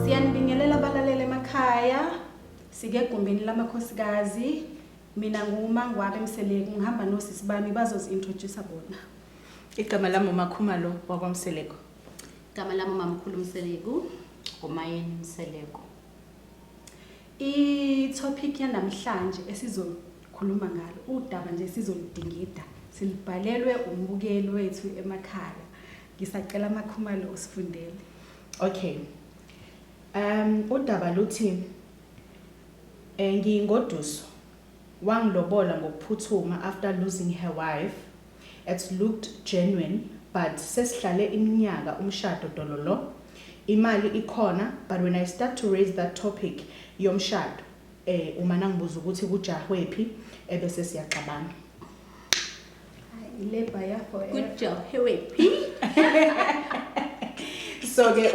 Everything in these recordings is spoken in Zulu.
Siyanibingelela abalaleli emakhaya. Sike egumbini lamakhosikazi. Mina nguMangwabe Mseleku ngihamba nosisi bami bazozi-introduce bona. Igama lami uMakhumalo wakwaMseleku. Igama lami uMamkhulu Mseleku. Umayeni Mseleku. I-topic yanamhlanje esizokhuluma ngalo udaba nje sizoludingida silibhalelwe umbukeli wethu emakhaya ngisacela amakhumalo usifundele okay um udaba luthi um ngingoduso Wangilobola ngokuphuthuma after losing her wife, it looked genuine but sesihlale iminyaka umshado dololo, imali ikhona but when I start to raise that topic yomshado umane angibuze ukuthi kujahwephi ebese siyaxabana. Good job. Here we so ke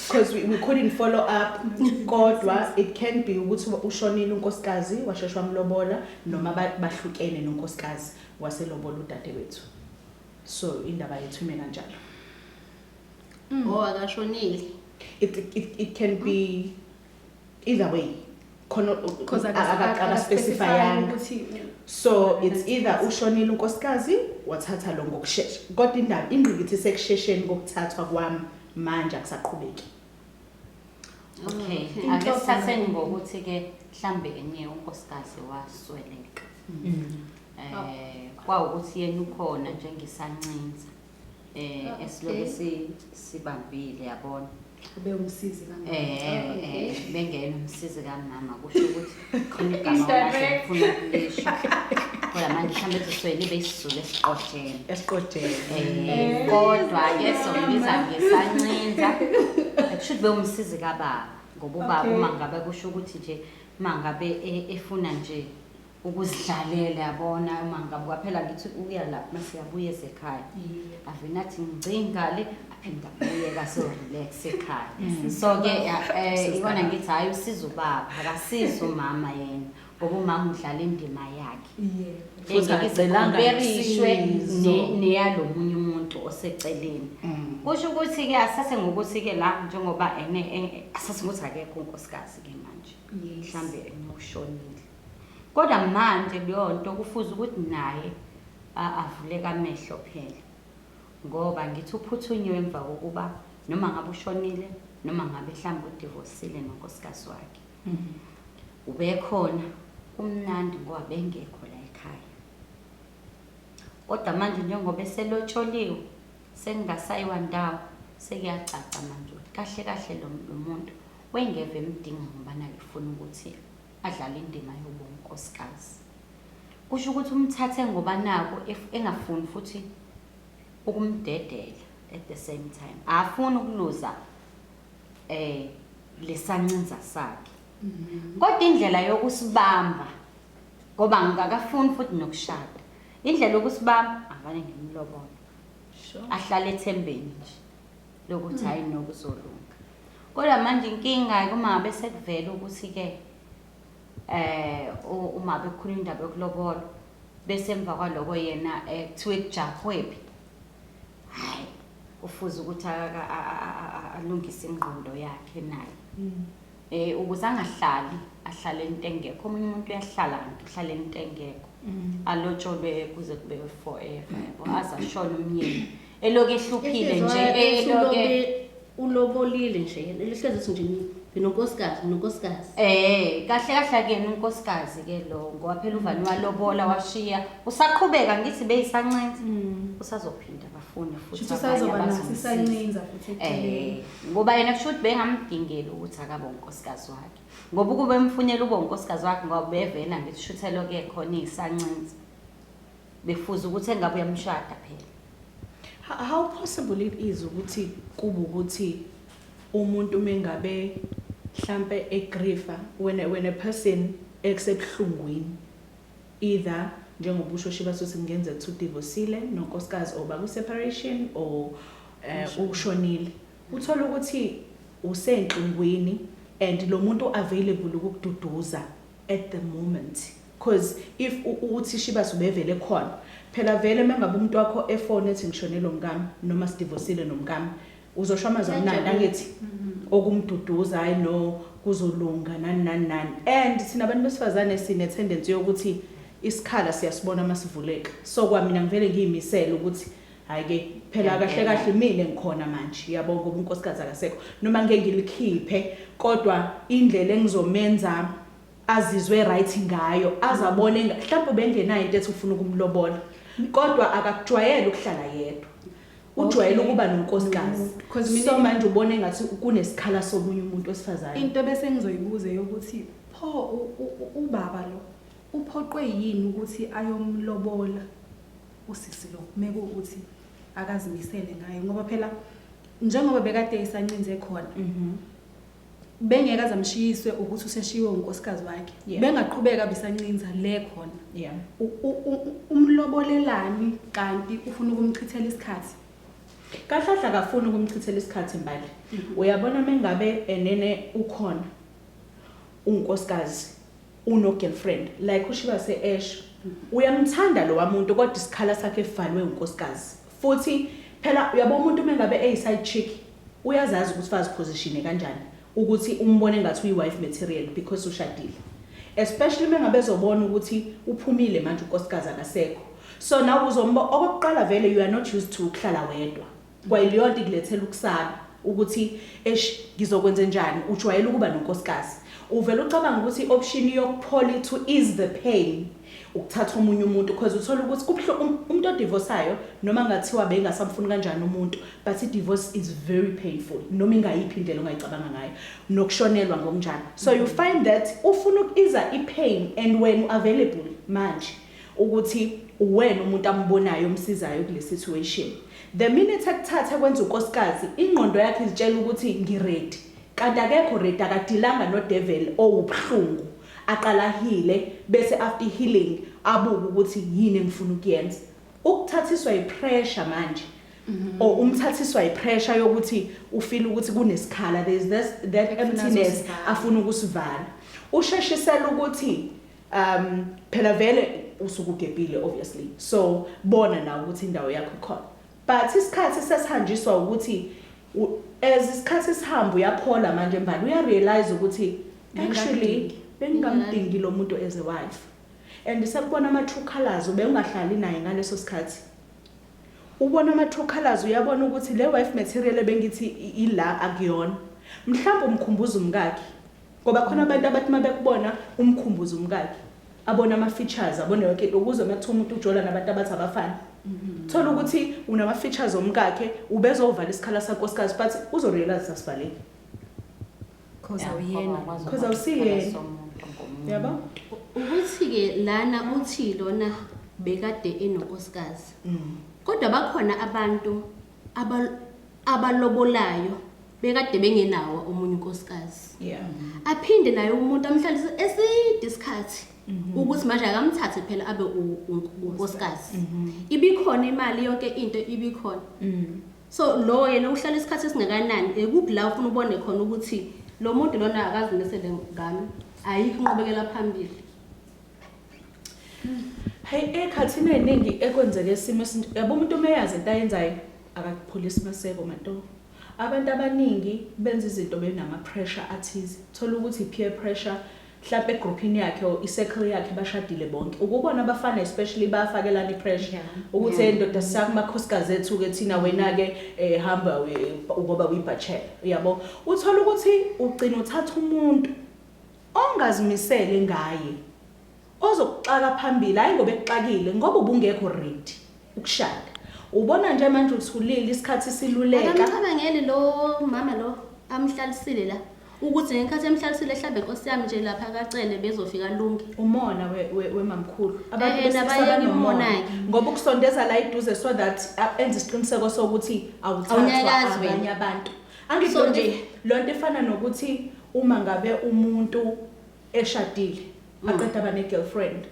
because we, we couldn't follow up kodwa it can be ukuthi ushonile unkosikazi washeshwa mlobola noma bahlukene nonkosikazi waselobola udadewethu so indaba yethu ime kanjalo mm. oh akashonile it, it, it can be either way khona akaspecifyanga so it's either ushonile unkosikazi wathatha lo ngokushesha kodwa indaba ingqikithi isekushesheni kokuthathwa kwami manje akusaqhubeki okay ake sithatheni ngokuthi-ke mhlambe enye unkosikazi wasweleka mm. eh kwawukuthi yena ukhona njengesancinza eh esilobe sibambile yabona ube umsizi kamama Eh, Okay. eh, bengena umsizi kamama kusho ukuthi khona igama Indirect. olahle ngifuna ukulisho. Kodwa manje mhlawumbe eziswele ibe isizulu esiqojeni. esiqodeni Eh, kodwa ke sombiza ngesancinza kusho ube umsizi kababa ngoba ubaba Okay. uma ngabe kusho ukuthi nje uma ngabe e- efuna nje ukuzidlalela yabona uma ngabe kwaphela ngithi uya lapho uma siyabuya esekhaya avele athi ngicingale aphinde abuyeka so-relax ekhaya so-ke um ikona ngithi hhayi usiza ubaba akasiza umama yena ngoba umama udlala indima yakhe engekeziberishwe neyalo munye umuntu oseceleni mm. kusho ukuthi-ke asase ngokuthi-ke la njengoba ene asase ngokuthi akekho unkosikazi-ke manje mhlawumbe enokushonile Kodwa manje leyonto kufuze ukuthi naye a, avuleke amehlo phela. Ngoba ngithi uphuthunywe emva kokuba noma ngabe ushonile noma ngabe mhlawumbe udivosile nonkosikazi wakhe. Ubekhona, kumnandi ngoba bengekho la ekhaya. Kodwa manje njengoba eselotsholiwe, sekungasayiwa ndawo, sekuyacaca manje ukuthi kahle kahle lo, lo muntu wengeve emdinga ngobani akefuni ukuthi adlala indima yobunkosikazi kusho ukuthi umthathe ngoba nako engafuni futhi ukumdedela at the same time afuni ukuluza eh lesancinza sakhe mm-hmm. kodwa indlela yokusibamba ngoba ngikakafuni futhi nokushada indlela yokusibamba avane ngimlobona ahlale ethembeni nje lokuthi hmm. hayi nokuzolunga kodwa manje inkinga-ke uma ngabe sekuvela ukuthi-ke eh uma bekhula indaba yokulobolo bese emva kwaloko yena eh, kuthiwe kujahwephi hayi ufuze ukuthi alungise ingqondo yakhe naye hmm. Eh ukuze angahlali ahlale into engekho omunye umuntu uyahlala kanti uhlale into engekho alotsholwe kuze kube forever yabo aze ashone umyeni eloku ehluphile nje eloke ulobolile nje yena lihlezi ukuthi nje nginonkosikazi nginonkosikazi eh kahle kahle kuyena unkosikazi ke lo ngoba phela uvani walobola washiya usaqhubeka ngithi beyisancenza usazophinda bafo funi futhi Shuthi abanye usazoba naso abazomsiza. isancinza futhi Eh, eceleni. ngoba yena kusho ukuthi bengamdingeli ukuthi akabe unkosikazi wakhe ngoba ukube emfunela ube unkosikazi wakhe ngoba bevele angithi shuthelo ke khona iyisancinza befuza ukuthi engabe uyamshada phela Ho- How possible it is ukuthi kube ukuthi umuntu mengabe hlampe egrifa when a, when a person exebuhlungwini either njengoba usho Shibasuthi kungenzeka ukuthi udivosile nonkosikazi or baku separation or eh, ushonile uthola ukuthi usenhlungwini and lo muntu available ukukududuza at the moment cause if u- uthi Shibas ubevele khona phela vele mangabe umuntu wakho efone ethi ngishonelwe umkami noma sidivosile nomkami uzosho amazwi amnandi angithi okumduduza hayi no kuzolunga nani nani nani and thina abantu besifazane sine-tendency yokuthi isikhala siyasibona uma sivuleka so kwamina ngivele ngiyimisele ukuthi hhayi-ke phela kahle kahle mina ngikhona manje yabo ngoba unkosikazi akasekho noma ngike ngilikhiphe kodwa indlela engizomenza azizwe right ngayo azabone mhlawumbe ubengenayo into ethi ufuna ukumlobola kodwa akakujwayele ukuhlala yedwa ujwayele ukuba nonkosikazi Mm, 'cause mina- so manje ubona engathi kunesikhala somunye umuntu wesifazane into bese ngizoyibuza yokuthi pho u- u- u- ubaba lo uphoqwe yini ukuthi ayomlobola usisi lo mekuwukuthi akazimisele ngayo ngoba phela njengoba bekade isancinze khona Mhm. bengeke aze amshiyiswe ukuthi useshiwe unkosikazi wakhe yeah. bengaqhubeka bisancinza le khona yeah. umlobolelani kanti ufuna ukumchithela isikhathi kahlahla kafuni ukumchithela isikhathi mbali mm -hmm. uyabona mengabe enene ukhona unkosikazi uno girlfriend like ushiba se esho uyamthanda lo wamuntu kodwa isikhala sakhe evalwe unkosikazi Futhi phela uyabo umuntu mengabe eyi side chick uyazazi ukuthi faziphositione kanjani ukuthi umbone ngathi uyi wife material because ushadile. Especially mengabe ezobona ukuthi uphumile manje unkosikazi akasekho. So nawe uzombo okokuqala vele you are not used to ukuhlala wedwa. Kwayileyonto ikulethela ukusaba ukuthi eish ngizokwenzenjani ujwayele ukuba nonkosikazi. Uvele ucabanga ukuthi i option yokuphola ithu ease the pain. ukuthatha omunye umuntu because uthola ukuthi kubuhlungu um, umuntu odivorsayo noma ngathiwa bengasamfuni kanjani umuntu but i-divorce is very painful noma ingayiphi indlela ongayicabanga ngayo nokushonelwa ngokunjalo so you mm-hmm. find that ufuna ukuiza i-pain and when available manje ukuthi uwena umuntu ambonayo omsizayo kule situation the minute akuthatha kwenza unkosikazi ingqondo yakhe izitshela ukuthi ngiredi kanti akekho redi akadilanga nodeveli owubuhlungu Aqale ahile bese after healing abuke ukuthi yini engifuna ukuyenza. Ukuthathiswa ipressure manje Mm-hmm. or umthathiswa yipressure yokuthi ufile ukuthi kunesikhala there is this, that Ekufuna emptiness azosivala. afuna ukusivala usheshisela ukuthi um phela vele usuke ugebhile obviously so bona nawe ukuthi indawo yakho ikhona but isikhathi sesihanjiswa ukuthi U as isikhathi sihamba uyaphola manje mbali uya realize ukuthi actually bengingamdingi lo muntu as a wife and sekubona ama true colors ubewungahlali naye ngaleso sikhathi ubona ama true colors uyabona ukuthi le wife material ebengithi ila akuyona mhlawumbe umkhumbuza umkakhe Ngoba khona abantu abathi uma bekubona umkhumbuza umkakhe, abone ama-features, abone yonke into ukuze uma kuthiwa umuntu ujola nabantu abathi abafani. Thola ukuthi unama-features omkakhe, ubezovala isikhala sankosikazi but uzorealize ukuthi asivaleki. Cause Yeah, awuyena. ngoba akwazi Cause ukubona awusiyena. isikhala somuntu ngomunye. Yabo? Ukuthi-ke lana uthi lona bekade enonkosikazi. Kodwa bakhona abantu abal- abalobolayo bekade bengenawo omunye unkosikazi yeah aphinde naye umuntu amhlalise eside isikhathi mhm. ukuthi manje akamthathe phela abe unkosikazi mhm. ibikhona imali yonke into ibikhona mm. so lo yena uhlala isikhathi esingakanani ekuphi la ufuna ubone khona ukuthi lo muntu lona akazimisele ngami ayikho inqubekela phambili hayi ekhathini eningi ekwenzeke isimo esinto yabo umuntu umeyazi into ayenzayo akakuphulisi maseko manto Abantu abaningi benza izinto benama pressure athize. Thola ukuthi i peer pressure hlampe egroupini yakhe or i circle yakhe bashadile bonke. Ukubona abafana especially bayafakelana i pressure. Yeah. Ukuthi Yeah. hey ndoda sakuma khosikazi ethu ke thina wena ke eh, hamba we- ngoba uyi bachelor. Uyabo? Uthola ukuthi ugcina uthatha umuntu ongazimisele ngaye. Ozokuxaka phambili hayi ngoba ekuxakile ngoba ubungekho ready ukushada. Ubona nje manje uthulile isikhathi siluleka. Akamcabangeli lo mama lo amhlalisile la. Ukuthi ngenkathi emhlalisile hlambe Nkosi yami nje lapha kacele bezofika lunge. Umona we- we- wemamkhulu. Abantu Eh, eh, besilisa nabayeke banomona. umona-ke. Ngoba ukusondeza la eduze so that uh, enze isiqiniseko sokuthi awuthathwa Awunyakazi wena. abanye abantu. Angisho So nje nje- lonto efana nokuthi uma ngabe umuntu eshadile aqeda aba ne-girlfriend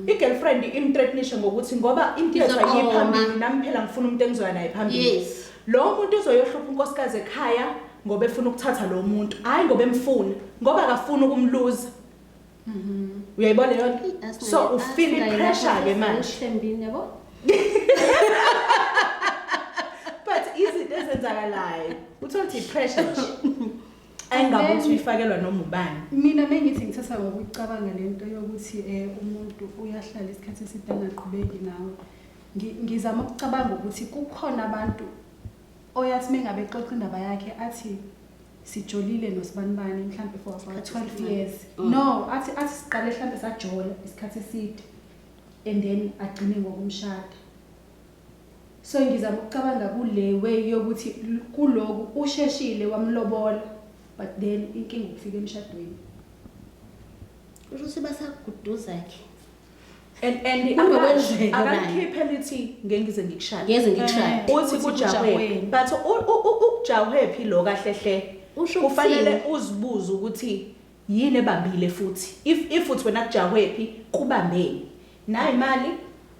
i-girlfriend imthreatnishe ngokuthi ngoba impilo Izoqoma. sayiphambili nami phela ngifuna umuntu engizoya naye phambili Yes. lo muntu uzoyohlupha unkosikazi ekhaya ngoba efuna ukuthatha lo muntu hhayi ngoba emfuna ngoba akafuni ukumluza uyayibona leyo nto Asinayo- so ufile asinayo ipressure-ke lapho manje sisembini, yabo? but izinto ezenzakalayo uthole ukuthi i-pressure nje ayingabe uthi uyifakelwa noma ubani mina bengithi ngithatha ngokucabanga le nto yokuthi um umuntu uyahlala isikhathi eside angaqhubeki nawe ngizama ukucabanga ukuthi kukhona abantu oyathi mengabe xoxa indaba yakhe athi sijolile nosibanibani mhlawumbe for about 12 years mm. no athi athi siqale mhlawumbe sajola isikhathi eside and then agcine ngokumshada So ngizama ukucabanga kule way yokuthi kuloku usheshile wamlobola but then inkinga ukufika emshadweni. Usho ukuthi basakuduza ke. And and Kungokwenzeka manje. akamkhiphe lithi ngeke ngize ngikushaya. Ngeze ngikushaya. Eh, Uthi uthi kujahwe. kujahweni. But u- u- u- ukujahwe phi lo kahle hle. Usho Kufanele ukuthini? uzibuze ukuthi Yini ebambile futhi if if uthi wena kujakwephi kubambeni nayi imali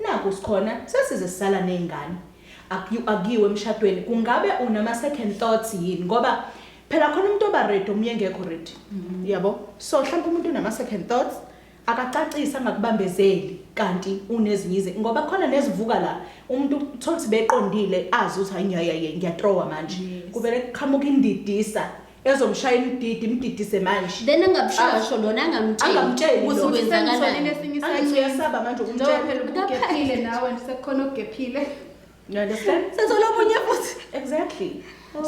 naku sikhona sesize sisala nezingane akuyu akuyiwe emshadweni kungabe unama second thoughts yini ngoba phela khona umuntu oba ready omunye engekho ready mm-hmm. yabo so mhlawumbe umuntu unama second thoughts akacacisi angakubambezeli kanti unezinyize ngoba khona nezivuka la umuntu uthola ukuthi beqondile azi ukuthi hayi ngiyayaye ngiyatrowa manje kuvele kuqhamuka indidisa ezomshayela udidi imdidise manje then angabushiya Ah. ngisho lona angamtsheli Angamtsheli ukuthi lona. Uthi sengisolile kwenzakalani esinye angithi isayini. uyasaba manje Njengoba ukumtshela phela ubugephile nawe nje sekukhona ogephile you understand sethole omunye futhi exactly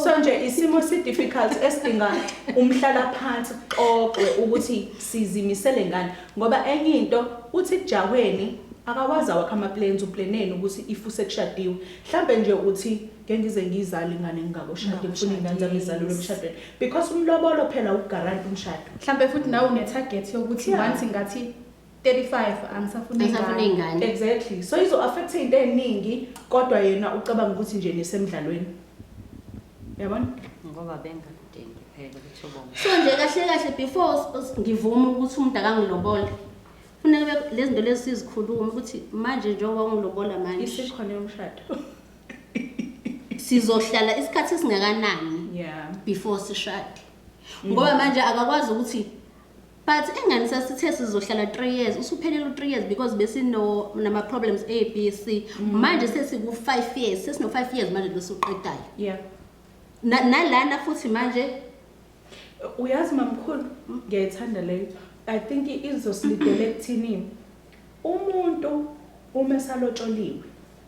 so nje isimo si-difficult esidinga umhlala phansi kuxoxwe ukuthi sizimisele ngani ngoba enye into uthi kujahweni akawazi awakho ama-plans uplaneni ukuthi if usekushadiwe mhlawumbe nje uthi ngeke ngize ngiyizale ingane ngingakoshadi ngifuna iy'ngane zami izalelwe emshadweni because umlobolo phela ukugaranta umshado mhlawumbe futhi nawe une-target yokuthi Yeah. once ngathi 35 angisafuna Angisafuna ingane ingane. exactly so izo-affectha iy'nto ey'ningi kodwa yena ucabanga ukuthi nje nisemdlalweni yabona ngoba bengadingi phela ukuthi ubonge so nje kahle kahle before us- us- ngivume ukuthi umuntu akangilobole funeke be- lezi zinto lezi sizikhulume ukuthi manje njengoba ungilobola manje isikhona yomshado sizohlala isikhathi esingakanani yeah before sishade ngoba manje akakwazi ukuthi but engani sasithe sizohlala 3 years usuphelele u3 years because besino nama problems A B C manje sesiku 5 years sesino 5 years manje losuqedayo yeah Na- nalana futhi manje uyazi mamkhulu ngiyayithanda leyo i think izosilidele ekuthini umuntu uma esalotsholiwe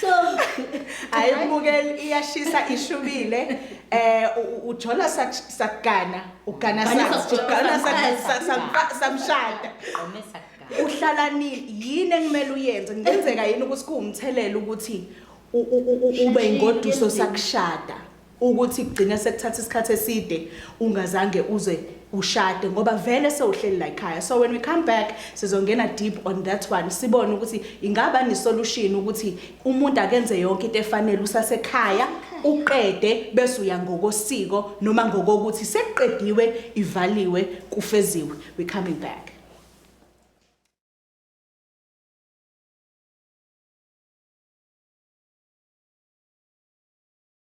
so hayi ubukeli iyashisa ishubile eh u- ujola sak- sakugana ugana Ugana sa- sakujolo, ugana sa- samqala, sa- samqa- samshada Qomisa kugana. uhlala nini yini engimele uyenze kungenzeka yini ukuthi kuwumthelela ukuthi u- u- u- u- ube Sheshe, ingoduso yenze. sakushada ukuthi kugcine sekuthatha isikhathi eside ungazange uze ushade ngoba vele sewuhleli la ekhaya so when we come back sizongena deep on that one sibone ukuthi ingaba ni solution ukuthi umuntu akenze yonke into efanele usasekhaya uqede bese uya ngokosiko noma ngokokuthi sekuqediwe ivaliwe kufeziwe we coming back